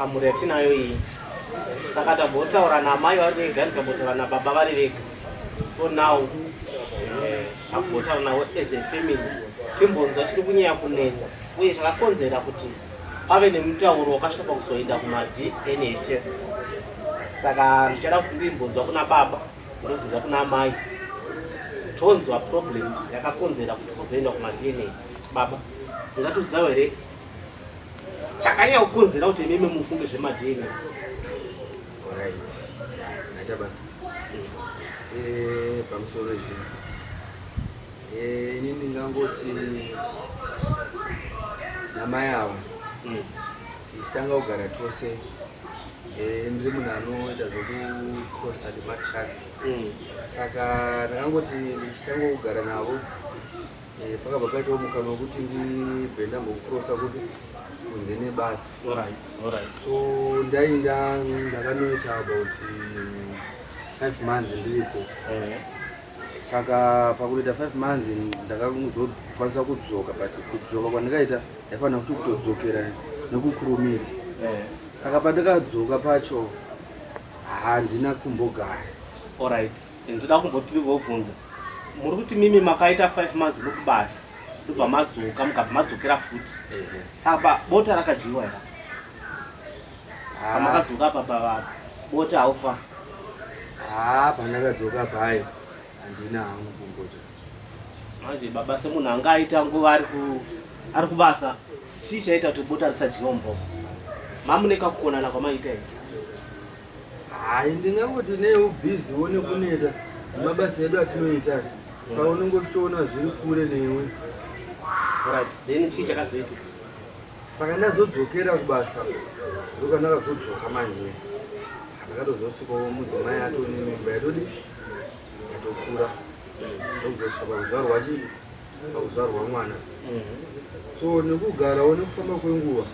amhuri yatinayo iyi saka tambotaura namai vari vega ndikambotaura nababa vari vega so now eh, tambotaura navo as a family timbonzwa chiri kunyaya kunetsa uye chakakonzera kuti pave nemutauro wakasvika pakuzoenda kumadna test saka ndichada kuti ndimbonzwa kuna baba Ndozviza kuna amai tonzwa problem yakakonzera kuti kuzoenda kumadna baba ungatiudzawo here chakanyaya kukonzera kuti imimi mufunge zvemadna right aita basa eh, pamusoro izvi eh, ini ndingangoti namai ava mm. tichitanga kugara tose eh, ndiri munhu anoita zvekucrossa nematrucks mm. saka ndakangoti ndichitanga kugara navo eh, pakabva paitawo mukana wekuti ndibve ndambokukrossa kuti kunze nebasa so ndainda ndakanoita about five months ndiripo eh. saka pakutoita five months ndakazokwanisa kudzoka but kudzoka kwandikaita ndaifanira futi kutodzokera nekukurumidza eh. saka pandikadzoka pacho handina kumbogara orit ndoda kumbotibvobvunza muri kuti mimi makaita five months nokubasa ndobva madzoka mukabva madzokera futi saka bota rakadyiwa ira Ah. pamakadzoka apa pava bota haufa haa pandakadzoka paye handina hangu kumboja manje baba semunhu anga aita nguva ari ku- ari kubasa chii chaita kuti bota risadyiwa mumboko mamune kakukonana kwamaita ii hayi ndingangoti neubhiziwo nekuneta nemabasa edu atinoita aya. saka unenge uchitoona zviri kure newe right then chii chakazoitika saka ndazodzokera kubasa ndoka ndakazodzoka manje ndakatozosvikawo mudzimai ato nemimba yatodi yatokura ndokuzosvika pakuzvarwa chii pakuzvarwa mwana mhm. so nekugarawo nekufamba kwenguva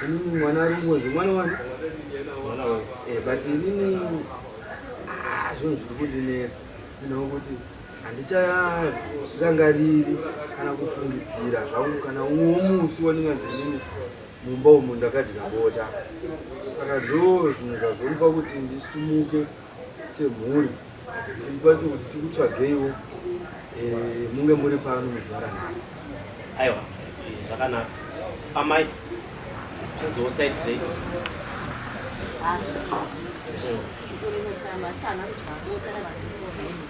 inini mwana ari kungonzi mwana wani eh, but inini ah, zvinhu zviri kundinetsa inokuti handicharangariri kana kufungidzira zvangu kana umwe womusi wandinganzi inini mumba umu ndakadya bota saka ndo zvinhu zvazomupa kuti ndisumuke semhuri tikwanise kuti tikutsvageiwo eh, munge muri pano muzuva ranhasi aiwa zvakanaka amai tinziwo side rei ah.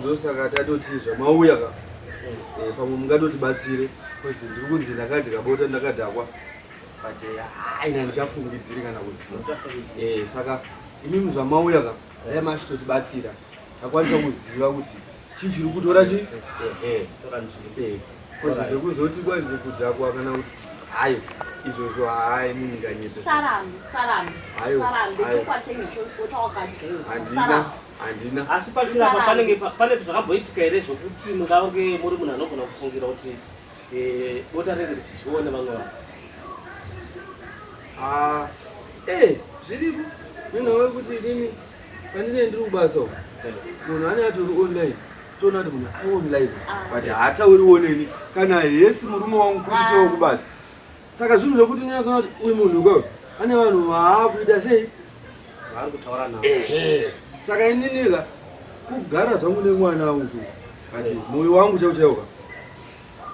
ndosaka tatoti zvamauya ka eh, pamwe mungatotibatsire bcause ndiri kunzi ndakadya bota ndakadhakwa but eh, aina ndichafungidziri kana kuziva eh, saka imimi zvamauya ka dai machitotibatsira takwanisa kuziva kuti chii chiri kutora chi ehe bcause zvekuzoti kwanzi kudhakwa kana kuti hayo izvozvo hayi munhu nganyepe sarambe sarambe sarambe chokwachenge chokwachakadya handina handina asi pasiri apa panenge pane zvakamboitika here zvokuti mungange muri munhu anogona kufungira kuti eh, bota renge richidyiwa nevamwe vanhu ah, ee eh, zviripo nina wekuti inini pandine ndiri kubasa uku eh. munhu ane ati uri online toona kuti munhu ari online ah. but haatauriwo neni kana hesi murume wangu kuisawo kubasa Saka zvinhu zvekuti unonyatsoona kuti uyu munhu ko ane vanhu vaakuita sei vaari kutaura navo. Saka ininika kugara zvangu nemwana wangu ati moyo wangu chaiwo chaiwo ka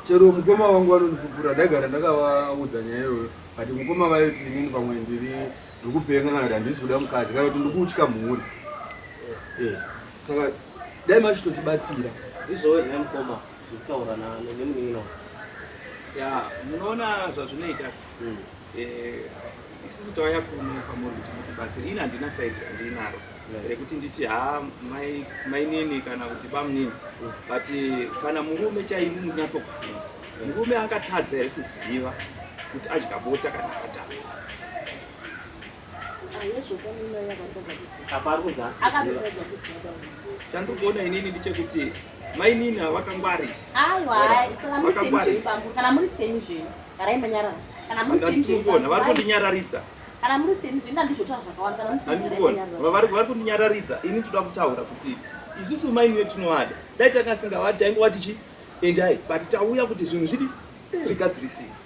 chero mukoma wangu vanondipupura ndaigara ndakavaudza nyaya iyoyo ati mukoma vaiti inini pamwe ndiri ndikupenga kana kuti handisi kuda mukadzi kana kuti ndikutya mhuri saka dai machitotibatsira izvoo here mukoma kutaura nemunin'ina wangu ya munoona zvazvinoita hmm. eh, isusu tauya kuno pamuri kuti mutibatsire ini handina saidi randinaro rekuti nditi ha mainini kana kuti bamunini hmm. but eh, kana murume chaimu munyatsokufunga murume angatadza here kuziva kuti adya bota kana akatanga chandikuona inini ndichekuti mainina vakangwarisa vari kundinyararidza kana muri seni zvinda ndizvotaura zvakawanda vari kundinyararidza ini nditoda kutaura kuti isusu maini vetinowada dai takasingavadi taingova tichi endai but tauya kuti zvinhu zvidi zvigadzirisika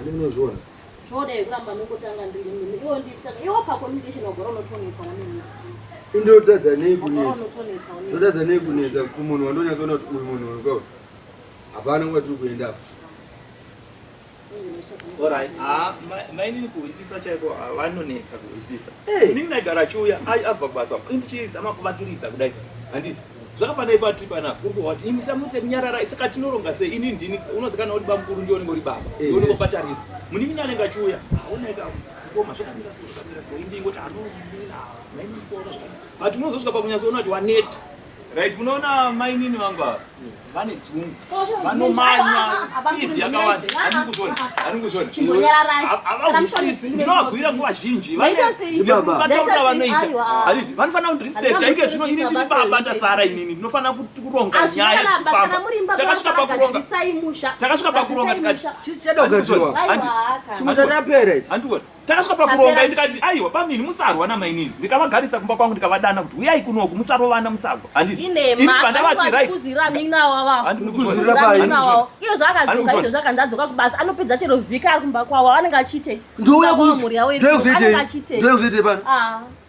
Ani munozviona? Zvoda yekuramba nokutanga ndiri mimi. Iwo nditanga. Iwo pa communication wagora unotonetsa na mimi. Ndotadza nei kunetsa? Ndotadza nei kunetsa kumunhu wandonyatsoona kuti uyu munhu uyu kauri. Hapana nguva tiri kuenda apa. Alright. Ah, mainini kuhwisisa chaiko ah, vanonetsa kuhwisisa. Hey. Inini ndagara chiuya ai abva kubasa. Ndichizama kuvakiridza kudai. Handiti? zvakafanira ipa tiri panapa uri kuhwati imi samuse kunyararai saka tinoronga sei ini ndini unozikana kuti bamukuru ndioni ngori baba eh. ndioni ngopatariso munini anenge achiuya aonaika koma zvakamira so zvakamira so indi ingoti anomira maini kuona zvakamira but unozosvika pakunyatsoona kuti waneta right munoona mainini vangu ava vane dzungu vanomanya speed yakawanda aninguzvona aninguzvona havahwisisi ndinovabhuira nguva zhinji vataura vanoita ariti vanofanira kuti respect aike zvino ini ndiri baba ndasara inini ndinofanira kuronga nyaya dzekufamba takasvika pakuronga takasvika pakuronga tikati chadogadzirwa handikuona Takasvika pakuronga ndikati aiwa bamnini musarwa namainini ndikavagarisa kumba kwangu ndikavadana kuti uyai kunoku musarovana musagwa handiiiandavatiraizvakanzadzoka kubasa anopedza chero vhika ari kumba kwavo anenge achiitei ndouya kumhuri yavo anenge achiitei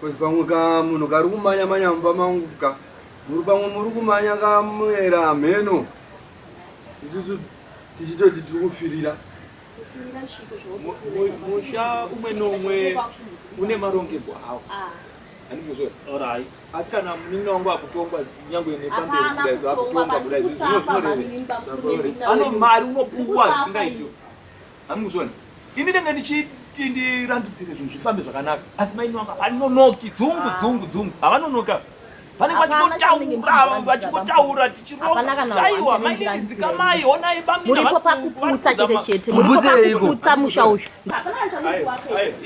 Coz pamwe ka munhu kari kumanya manya mumba mangu ka muri pamwe muri kumanya ka muera hameno isusu tichitoti tiri kufirira musha umwe nomwe une marongerwo awo ah. asi kana munin'ina wangu akutongwa nyangwe nepamberi kudai so akutongwa kudai zvinozvinoreve ano mari unopuwa zvisingaiti Amuzvona. Ini ndanga ndichiti ndirandudzire zvinhu zvifambe zvakanaka. Asi mai Nwaka vanonoki dzungu ah. dzungu dzungu. Havanonoka. Pane vachingotaura vachingotaura tichironga. Chaiwa mai ndinzika mai honai bamina. Muripo pakuputsa chete chete. Muripo pakuputsa musha uyu.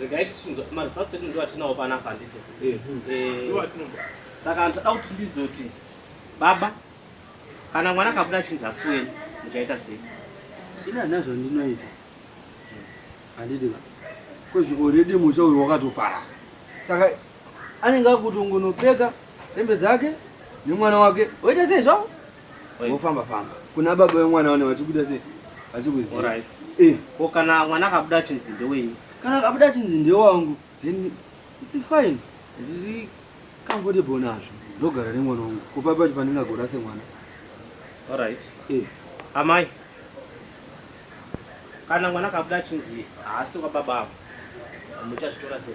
regai tichinzwa maresults edu ndiwo atinawo panapa handidzo eh, eh, saka vanhu toda kuti ndidzo kuti baba kana mwana akabuda achinzi asi wenyu muchaita sei ini handina zvandinoita handiti ka kozi oredi musha uyu wakatopara saka anenge akutongonopfeka hembe dzake nemwana wake oita sei zvavo Wofamba famba. Kuna baba wemwana wana vachikuita sei? Vachikuziva. Alright. Eh. Ko kana mwana akabuda achinzi ndewenyu? Kana akabuda achinzi ndewangu, then it's fine. Ndiri comfortable nazvo. Ndogara nemwana wangu. Ko baba pacho pandingagora semwana. Alright. Eh. Amai. Kana mwana akabuda achinzi haasi wababa avo. Muchazvitora sei?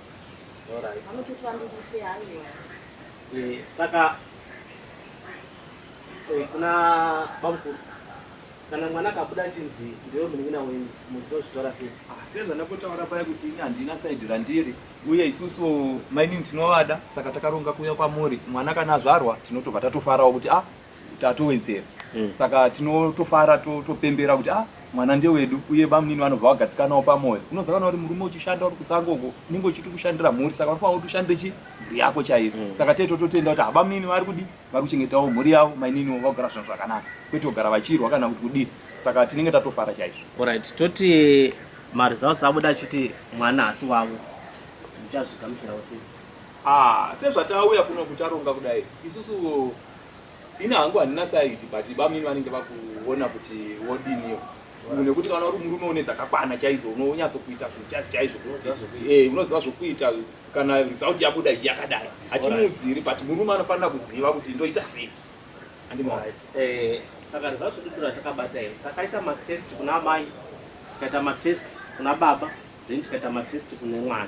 Alright. Anototi vandiite haiwa. Eh, saka eh, kuna bamukuru kana mwana akabuda achinzi ndiwe munin'ina wenyu munhu tozvitora sei Ah, sezvandakotaura paya kuti ini handina saidi randiri uye isusu mainini tinovada saka takaronga kuuya kwamuri mwana kana azvarwa tinotobva tatofarawo kuti ah tatowedzera mm. saka tinotofara topembera to kuti ah mwana ndewedu uye bamunini vanobva vagadzikanawo pamwoyo unozakana kuti murume uchishanda uri kusango uko unenge uchiti kushandira mhuri saka unofanira kuti ushandire chi mhuri yako chaiyo mm. saka tee tototenda kuti habamunini vari kudi vari kuchengetawo mhuri yavo maininiwo vagara zvinhu zvakanaka kwete kugara vachirwa kana kuti kudii saka tinenge tatofara chaizvo orit toti maresults abuda achiti mwana hasi wavo muchazvigamuchirawo sei Ah sezvatauya kunoku taronga kudai isusu ini hangu handina side but bamini vanenge vakuona kuti wodiniyo nekuti kana uri murume une dzakakwana chaidzo unonyatsokuita zvichati chaizvo eh, unoziva zvokuita kana result yabuda yakadai hatimuudziri but murume anofanira kuziva kuti ndoita sei eh, saka result titora takabata here takaita matest kuna amai tikaita matest kuna baba then tikaita matest kune mwana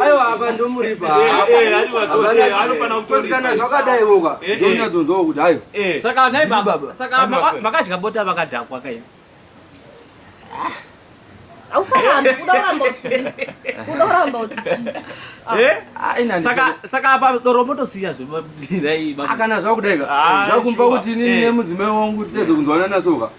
aiwa apa ndomuripakosikana zvakadai voka ndonyadzonzwawo kuti ayo vakadya bota vakadhakwa kaii ausarambe kuda uramba kuda uramba utisaka apa doro motosiya zvemaira akana zvakudaika zvakumba kuti inini nemudzimai wangu tiedze kunzwanana soka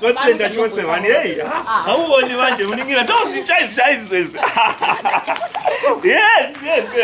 totenda chose vani hei hauvoni vanje uningira ndozvichaizvaizvezvi yes yes